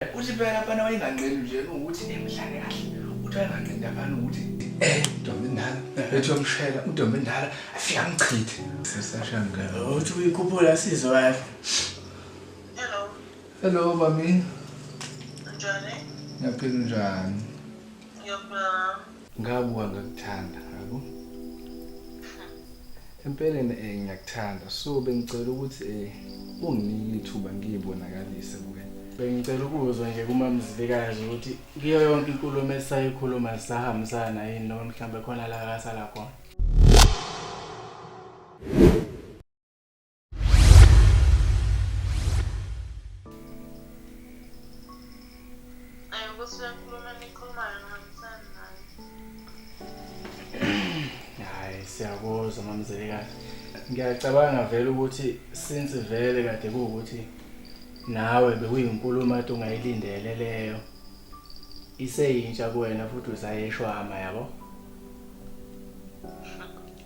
uthi phela abana wayenganqeni nje ukuthi emhlale kahle uthi wayenganqeni abana ukuthi eh ntombi ndala ethi yomshela untombi ndala afika mchithe sesashanga uthi uyikhuphula sizo yakhe hello hello bami njani ngiyaphila njani ngiyaphila Ngabuka ngakuthanda yabo. Empeleni eh ngiyakuthanda so bengicela ukuthi eh unginike ithuba ngiyibonakalise kuwena. Bengicela ukuzwa nje kumamzilikazi ukuthi kuyo yonke inkulumo esayikhuluma sisahambisana yini noma mhlawumbe khona la akasala khona. Hayi siyakuzwa mamzelekazi. Ngiyacabanga vele ukuthi since vele kade kuwukuthi nawe bekuyinkulumo ade ungayilindele leyo. Iseyintsha kuwena futhi usayeshwama yabo.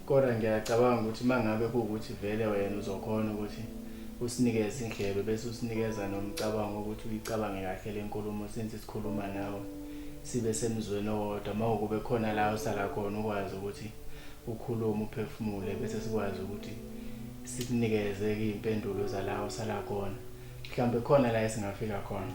Kodwa ngiyacabanga ukuthi uma ngabe kuwukuthi vele wena uzokhona ukuthi usinikeze indlebe bese usinikeza nomcabango ukuthi uyicabange kahle le nkulumo since sikhuluma nawe sibe semzweni owodwa uma ukube khona la usala khona ukwazi ukuthi ukhulume uphefumule bese sikwazi ukuthi sikunikeze-ke iy'mpendulo zala usala khona mhlawumbe khona la esingafika khona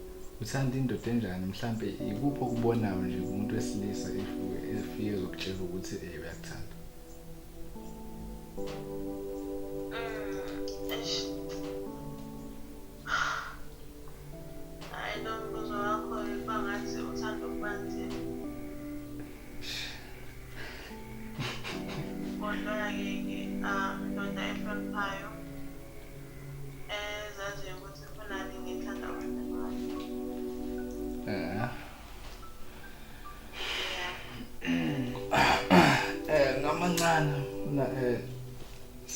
uthanda indoda enjani mhlampe ikuphi okubonayo nje kumuntu wesilisa efike ezokutshela ukuthi um uyakuthanda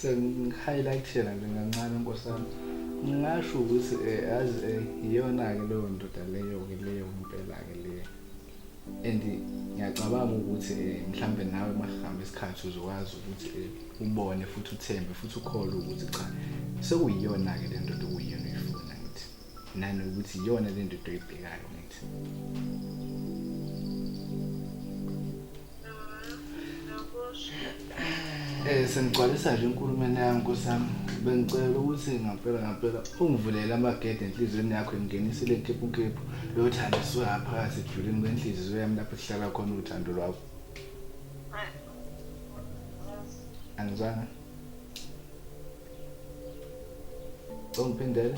sengihighlightela nje kancane nkosi yami ngingasho ukuthi um azi um iyona-ke leyo ndoda leyo-ke leyo impela-ke leyo and ngiyacabanga ukuthi eh, mhlambe nawe makuhamba isikhathi uzokwazi ukuthi eh, ubone futhi uthembe futhi ukhole ukuthi cha sekuyiyona-ke le ndoda okuyiyona uyifuna ngithi nanokuthi iyona le ndoda oyibhekayo ngithi Eh sengigcwalisa nje inkulumeni yami nkosami bengicela ukuthi ngampela ngampela ungivulele amagede enhliziyweni yakho ingenise le nkephu nkephu lothando siwaphakathi ejulini kwenhliziyo yami lapho kuhlala khona uthando lwakho angizanga Don't pin that.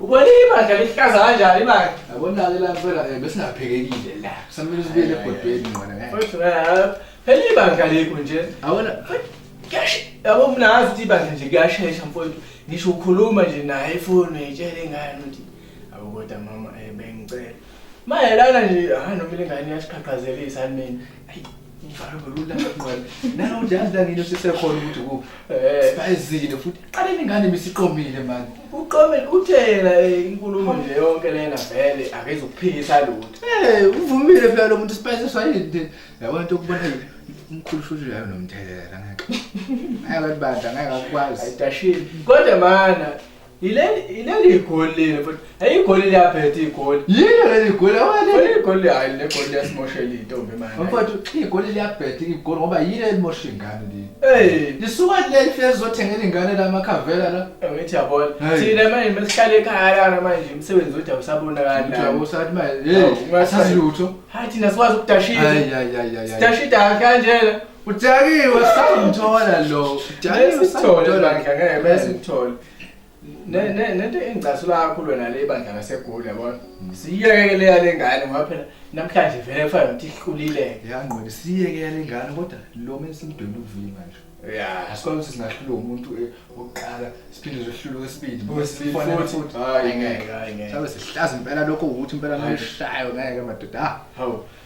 Ubona ibandla lihlaza kanjani manje? Yabona-ke la phela um besingaphekekile la. Kusamele sibuyele ebhodweni ngqona ngeke. Futhi eh, phela ibandla likho nje. Yabona Kuyashe- Yabo mina ngazi ukuthi ibandla nje kuyashesha mfowethu. Ngisho ukhuluma nje naye ifoni uyitshela ingane ukuthi abo kodwa mama eh bengicela. Mayelana nje ah noma ingane iyasiqhaqhazelisa mina. Ayi Ngifana ngolula ngqwele. Nawe ujazi la ngine sisekhona ukuthi ku. Eh. Bayizile futhi qale ningane misiqomile manje. Uqomele uthela eh, inkulumo nje yonke lena vele akezokuphikisa lutho. Eh, uvumile phela lo muntu spice sayini. Yabona into kubona umkhulu futhi uyayo nomthelela ngeke. Ngeke abantu banda ngeke akwazi. Ayidashile. Kodwa mana Ileli igoli leli futhi. Hey igoli liyabhetha igoli. Yini leli igoli awale. Leli igoli hayi le goli yasimoshela intombi manje. Mfowethu igoli liyabhetha igoli ngoba yini elimosha ingane leli. Hey, lisuka leli fezi zothengela ingane la makhavela la. Ngithi yabona. Thina manje mesihlale ekhaya la manje umsebenzi uthi awusabonakali. Uthi awusathi manje. Hey, ungasazi lutho. Hayi thina sikwazi ukudashisa. Hayi hayi hayi. Sidashida kanjena. udakiwe samthola lo udakiwe samthola bandla ngeke bese uthole ne ne nento engicasula kakhulu wena le bandla ngasegoli yabona mm. siyeke le yale ngane ngoba phela namhlanje vele kufanele ukuthi ihlulile yangqondo siyeke yale ngane kodwa lo menzi umdweni uvile manje ya asikwazi ukuthi singahlula umuntu eh, oqala siphinde sihlule okwesibili bosifona futhi hayi ngeke hayi ngeke sabe sihlaza impela lokho ukuthi impela nomshayo ngeke madoda ah, hawu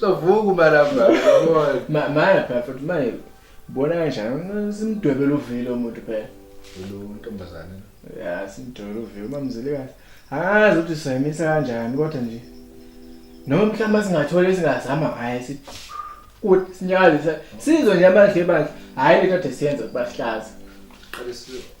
Sovuka umalamba yabona. Ma manje phela futhi manje bona kanjani simdwebela uvile umuntu phela. Lo ntombazane. Ya simdwebela uvile umamzile kahle. Angazi ukuthi sayimisa kanjani kodwa nje. Noma mhlawumbe singathola esingazama ngaye sithi kuthi sinyakaze sizwe nje amadle bandla. Hayi le kade siyenza ukubahlaza. Qale sizo.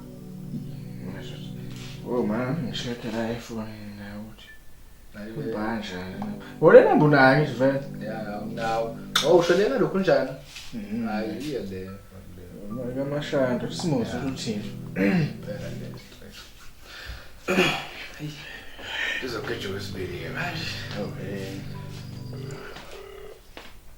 Oh man, ngishade la efonini naye ukuthi. Ubanja. Wolena mbunayo ngisho vele. Yeah, nginawo. Oh, ushonela lokhu njani? Mhm. Hayi, iye le. Mali kamashanda, usimose uthini? Phela le stress. Izogejwa isibili ke manje. Okay.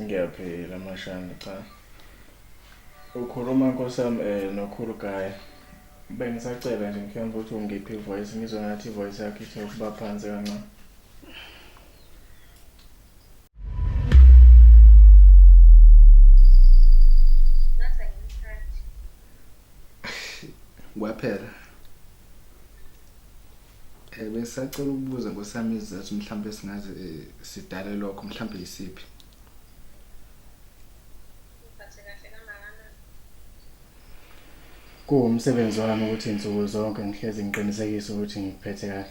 Ngiyaphila mashana cha. Ukhuluma nkosi yami eh nokhulu guy. Bengisacela nje mfana ukuthi ungiphi voice ngizwe ngathi voice yakhe ithe ukuba phansi kancane. Kwaphela. Eh besacela ukubuza ngosami izizathu mhlawumbe singaze eh, sidale lokho mhlawumbe yisiphi. Kuwumsebenzi wami ukuthi nsuku zonke ngihlezi ngiqinisekise ukuthi ngikuphethe kahle.